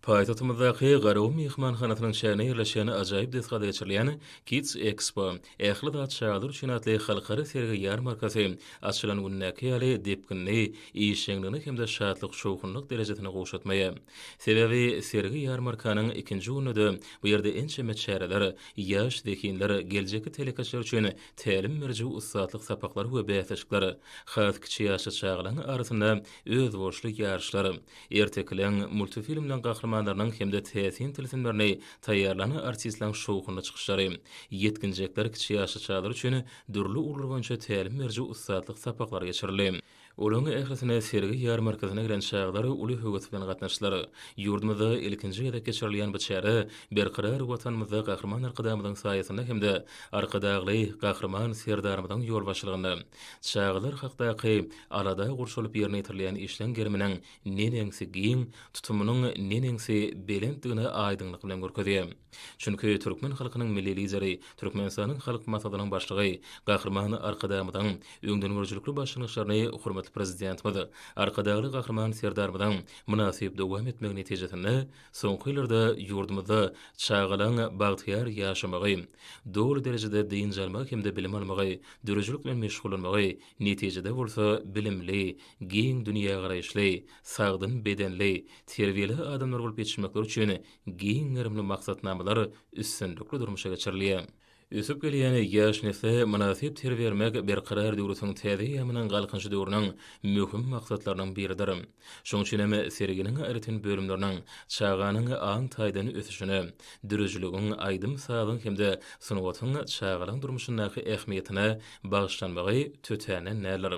Paýtagtymyzdaky Garawun myhmanhanasynyň çäginde ýerleşen ajaýyp desgada geçirilýän Kids Expo, Ähli zat çagalar üçin atly halkara sergi-ýarmarkasy açylan gündäki ýaly depginli, işjeňligini hem-de şatlyk-şowhunlyk derejesini gowşatmaýar. Sebäbi sergi-ýarmarkanyň ikinji gününde-de bu ýerde ençeme çäreler, ýaş zehinler, geljekki telekeçiler üçin tälim beriji ussatlyk sapaklary we bäsleşikler, has kiçi ýaşly çagalaryň arasynda özboluşly ýaryşlar, Ertekileň multifilmleň gahrymanlarynyň hem-de täsin tilsimlerini taýýarlan artistleriň şowhunly çykyşlary, ýetginjekler, kiçi ýaşly çagalar üçin dürli ugurlar boýunça tälim beriji ussatlyk sapaklary geçirildi. Olaryň ählisine sergi ýarmarkasyna gelen çagalar uly höwes bilen gatnaşdylar. Ýurdumyzda ilkinji gezek geçirilýän bu çäre Berkarar Watanymyzda Gahryman Arkadagymyzyň saýasynda hem-de Arkadagly Gahryman Serdarymyzyň ýolbaşçylygynda Çagalar hakdaky Alada gurşalyp ýerine ýetirilýän işleň geriminiň neneňsi giň, tutumynyň neneňsi belentdigini aýdyňlyk bilen görkezýär. Çünki türkmen halkynyň Milli Lideri, Türkmenistanyň Halk Maslahatynyň Başlygy Gahryman Arkadagymyzyň öňdengörüjilikli başlangyçlaryny hormatly Prezidentimiz, Arkadagly Gahryman Serdarymyzyň mynasyp dowam etmegi netijesinde soňky ýyllarda ýurdumyzda çagalaň bagtyýar ýaşamagy, doly derejede dynç almagy hem-de bilim almagy, döredijilik bilen meşgullanmagy Netijede bolsa bilimli, giň dünýägaraýyşly, sagdyn bedenli, terbiýeli adamlar bolup ýetişmekleri üçin giň gerimli maksatnamalar üstünlikli durmuşa geçirilýär. Ösüp gelýän ýaş nesle mynasyp terbiýe bermek Berkarar döwletiň täze eýýamynyň Galkynyşy döwrüniň möhüm maksatlarynyň biridir. Şonuň üçin hem serginiň aýratyn bölümleriniň çaganyň aň taýdan ösüşine, döredijiligiň, aýdym-sazyň hem-de sungatyň çagalaryň durmuşyndaky ähmiýetine bagyşlanmagy tötänden däldir.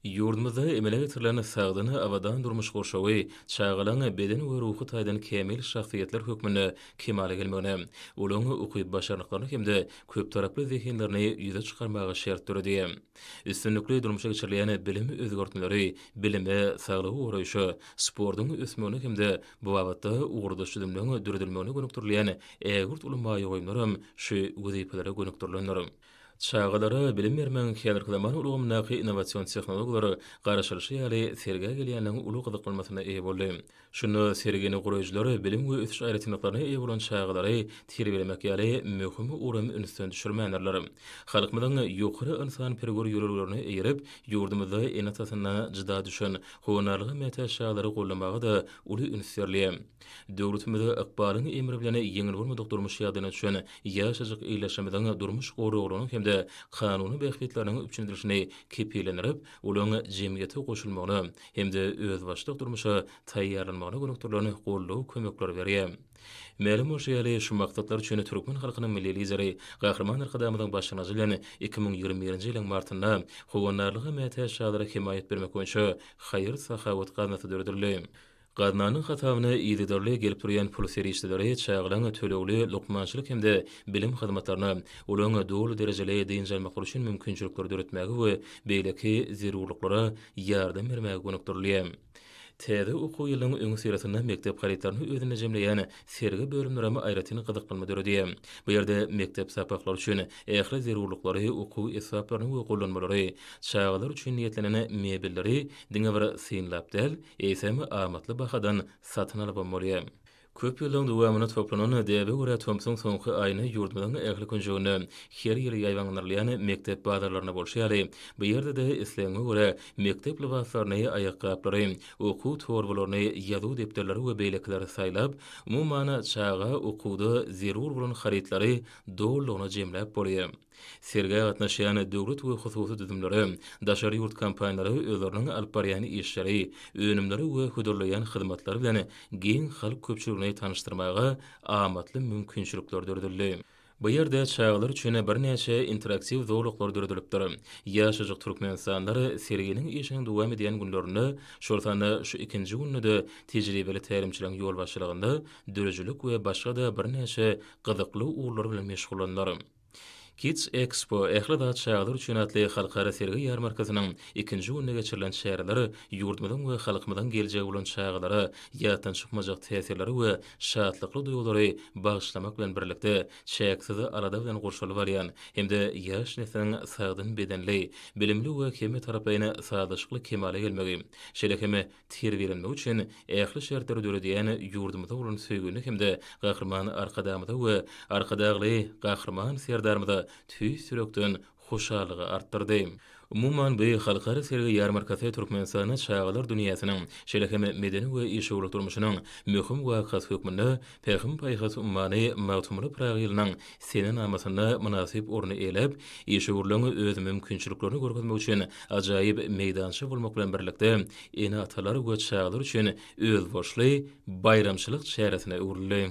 Ýurdumyzda emele getirilen sagdyn, abadan durmuş gurşawy çagalaryň beden we ruhy taýdan kämil şahsyýetler hökmünde kemala gelmegine, olaryň ukyp-başarnyklaryny hem-de köptaraply zehinlerini ýüze çykarmaga şert döredi. Üstünlikli durmuşa geçirilýän bilim özgertmeleri bilime, saglygy goraýşa, sportuň ösmegine hem-de bu babatda ugurdaş düzümleriň döredilmegine gönükdirilýän ägirt uly maýa goýumlaram şu wezipelere gönükdirilendir. Çagalara bilim bermegiň häzirki zaman ulgamyndaky innowasion tehnologiýalar garaşylyşy ýaly sergä gelýänleriň uly gyzyklanmasyna eýe boldy. Şunda sergini guraýjylar bilim we ösüş aýratynlyklaryna eýe bolan çagalary terbiýelemek ýaly möhüm ugry hem ünsden düşürmändirler. Halkymyzyň ýokary ynsanperwer ýörelgelerine eýerip, ýurdumyzda ene-atasyna jyda düşen, howandarlyga mätäç çagalary goldamaga-da uly üns berilýär. Döwletimiz ykbalyň emri bilen ýeňil bolmadyk durmuş ýagdaýyna düşen ýaşajyk ildeşlerimiziň durmuş goraglarynyň hem-de kanuny bähbitleriniň üpjün edilişini kepillendirip, olaryň jemgyýete goşulmagyna, hem-de özbaşdak durmuşa taýýarlanmagyna gönükdirilen goldaw-kömekleri berýär. Mälim bolşy ýaly, şu maksatlar üçin türkmen halkynyň Milli Lideri Gahryman Arkadagymyzyň başlangyjy bilen iki müň ýigrimi birinji ýylyň martynda Howandarlyga mätäç çagalara hemaýat bermek boýunça haýyr-sahawat gaznasy döredildi. Gaznanyň hasabyna yzygiderli gelip durýan pul serişdeleri çagalaň tölegli lukmançylyk hem-de bilim hyzmatlaryna, olaryň doly derejeli dynç almaklary üçin mümkinçilikleri döretmäge we beýleki zerurlyklara ýardam bermäge gönükdirilýär. Täze okuw ýylynyň öňüsyrasynda mekdep harytlaryny özünde jemleýän sergi bölümlerem aýratyn gyzyklanma döredýär. Bu ýerde mekdep sapaklary üçin ähli zerurlyklary, okuw esbaplaryny we gollanmalary, çagalar üçin niýetlenen mebelleri diňe bir synlap däl, eýsem, amatly bahadan satyn alybam bolýar. Köp ýyllaryň dowamynda toplanan däbe görä tomsuň soňky aýyny ýurdumyzyň ähli künjeginde her ýyl ýaýbaňlandyrylýan mekdep bazarlarynda bolşy ýaly, bu ýerde-de islegiňe görä mekdep lybaslaryny, aýakgaplary, okuw torbalaryny, ýazuw depderleri we beýlekileri saýlap, umuman, çaga okuwda zerur bolan harytlary dolulygyna jemläp bolýar. Sergä gatnaşýan döwlet we hususy düzümlere, daşary ýurt kompaniýalary özleriniň alyp barýan işleri, önümleri we hödürleýän hyzmatlary bilen giň halk köpçüligini tanyşdyrmaga amatly mümkinçilikler döredildi. Bu ýerde çagalar üçin birnäçe interaktiw zolaklar döredilipdir. Ýaşajyk türkmenistanlar serginiň işiniň dowam edýän günlerinde, şol sanda şu ikinji günde-de tejribeli tälimçileriň ýolbaşçylygynda döredijilik we başga-da birnäçe gyzykly ugurlar bilen meşgullandylar. Kids Expo, Ähli zat çagalar üçin atly halkara sergi-ýarmarkasynyň ikinji gününde geçirilen çäreler ýurdumyzyň we halkymyzyň geljegi bolan çagalara ýatdan çykmajak täsirleri we şatlykly duýgulary bagyşlamak bilen birlikde, çäksiz alada bilen gurşalyp alýan hem-de ýaş nesliň sagdyn bedenli, bilimli we hemmetaraplaýyn sazlaşykly kemala gelmegi, şeýle hem terbiýelenmegi üçin ähli şertleri döredýän ýurdumyza bolan söýgini hem-de Gahryman Arkadagymyza we Arkadagly Gahryman Serdarymyza tüýs ýürekden hoşallygy artdyrdy. Umuman, bu halkara sergi-ýarmarkasy Türkmenistanda çagalar dünýäsiniň, şeýle hem medeni we işewürlik durmuşynyň möhüm wakasy hökmünde Pähim-paýhas ummany Magtymguly Pyragy ýylynyň senenamasynda mynasyp orun eýeläp, işewürligiň öz mümkinçiliklerini görkezmek üçin ajaýyp meýdança bolmak bilen birlikde, ene-atalar we çagalar üçin özboluşly baýramçylyk çäresine öwrüldi.